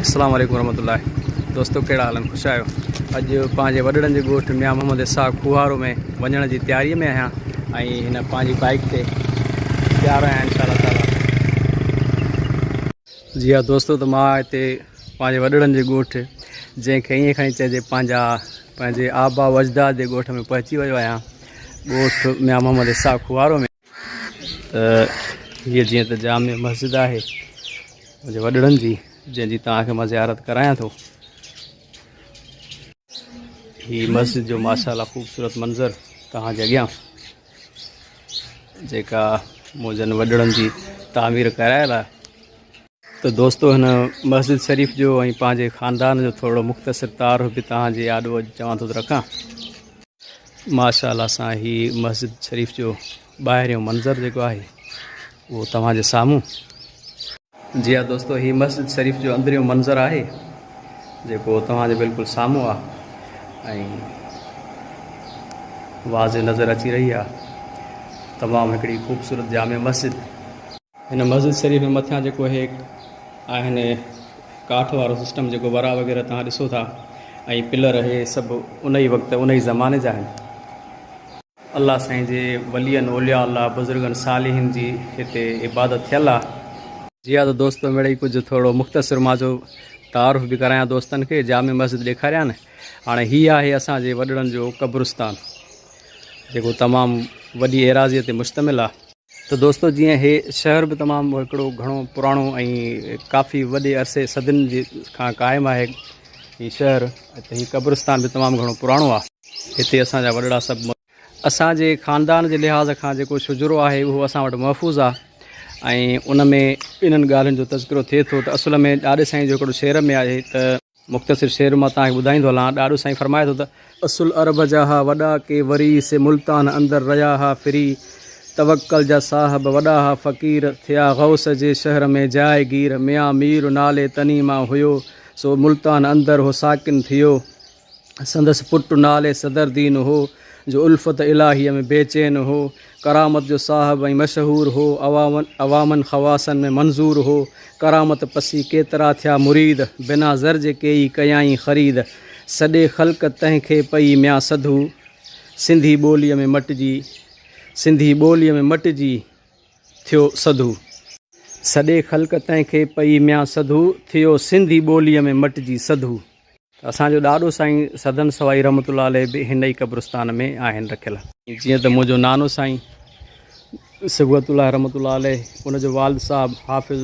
اسلام عليڪم ورحمة الله دوستو ڪهڙا حال آهن خوش آهيو اڄ پنهنجي وڏڙن جي ڳوٺ ميان محمد اسحاق کوهارو ۾ وڃڻ جي تياري ۾ آهيان ۽ هن پنهنجي بائيڪ تي تيار آهيان انشاء الله تعالي جي ها دوستو ته مان هتي پنهنجي وڏڙن جي ڳوٺ جنهن کي ائين کڻي چئجي پنهنجا پنهنجي آبا و اجداد جي ڳوٺ ۾ پهچي ويو آهيان ڳوٺ ميان محمد اسحاق خوارو ۾ ته هيء جيئن ته جامع مسجد آهي منهنجي وڏڙن جي جنهن جي توهان کي مان زيارت ڪرايان ٿو هي مسجد جو ماشاءالله خوبصورت منظر توهان جي اڳيان جيڪا منهنجن وڏڙن جي تعمير ڪرايل آهي ته دوستو هن مسجد شريف جو ۽ پنهنجي خاندان جو ٿورڙو مختصر تعارف به توهان جي آڏو اڄ چوان ٿو ته رکان. ماشاء الله سان هي مسجد شريف جو ٻاهريون منظر جيڪو آهي اهو توهان جي سامهون. جي ها دوستو هي مسجد شريف جو اندريون منظر آهي جيڪو توهان جي بلڪل سامهون آ ۽ واضح نظر اچي رهي آ تمام هڪڙي خوبصورت جامع مسجد. هن مسجد شريف ۾ مٿيان جيڪو هي آهن ڪاٺ وارو سسٽم جيڪو ورا وغيره توهان ڏسو ٿا ۽ پلر هي سڀ ان ئي وقت ان ئي زماني جا آهن. الله سائين جي ولين اولياء الله بزرگن صالحين جي هتي عبادت ٿيل آ. جي ها ته دوستو مڙئي ڪجهه ٿورو مختصر مان جو تعارف به ڪرايان دوستن کي جامع مسجد ڏيکاريان هاڻي هي آهي اسان جي وڏڙن جو قبرستان جيڪو تمام وڏي ايراضي تي مشتمل آ. ته دوستو جيئن هي شهر به تمام هڪڙو گهڻو پراڻو ۽ ڪافي وڏي عرصي صدين جي کان قائم آهي هي شهر ته هي قبرستان به تمام گهڻو پراڻو آهي هتي اسان جا وڏڙا سڀ اسان جي خاندان جي لحاظ کان جيڪو شجرو آهي اهو اسان وٽ محفوظ آهي ۽ ان ۾ انهن ڳالهين جو تذڪرو ٿئي ٿو ته اصل ۾ ڏاڏي سائين جو هڪڙو شعر ۾ آهي ته. مختصر شعر مان توهان کي ٻڌائيندو هلان. ڏاڏو سائين فرمائي ٿو ته. اصل عرب جا ها وڏا ڪي وري سي ملتان اندر رهيا ها ڦري توڪل جا صاحب وڏا ها فقير ٿيا غوث جي شهر ۾ جاء گير ميان مير نالي تني مان هيو سو ملتان اندر هو ساڪن ٿيو سندس پٽ نالي صدر دين هو جو الفت الاهيء ۾ بيچين هو ڪرامت جو صاحب ۽ مشهور هو، عوامن خواصن ۾ منظور هو، ڪرامت پسي ڪيترا ٿيا مريد، بنا زر جي ڪيئي ڪيائين خريد، سڏي خلق تنهن کي پئي ميان سڌو، سنڌي ٻوليء ۾ مٽجي، سنڌي ٻوليء ۾ مٽجي ٿيو سڌو. سڏي خلق تنهن کي پئي ميان سڌو، ٿيو سنڌي ٻوليء ۾ مٽجي سڌو. اسان جو ڏاڏو سائين سدن سوائي رحمت الله عليه به هن ئي قبرستان ۾ آهن رکيل. جيئن ته منهنجو نانو سائين صبغت الله رحمت الله عليه ان جو والد صاحب حافظ.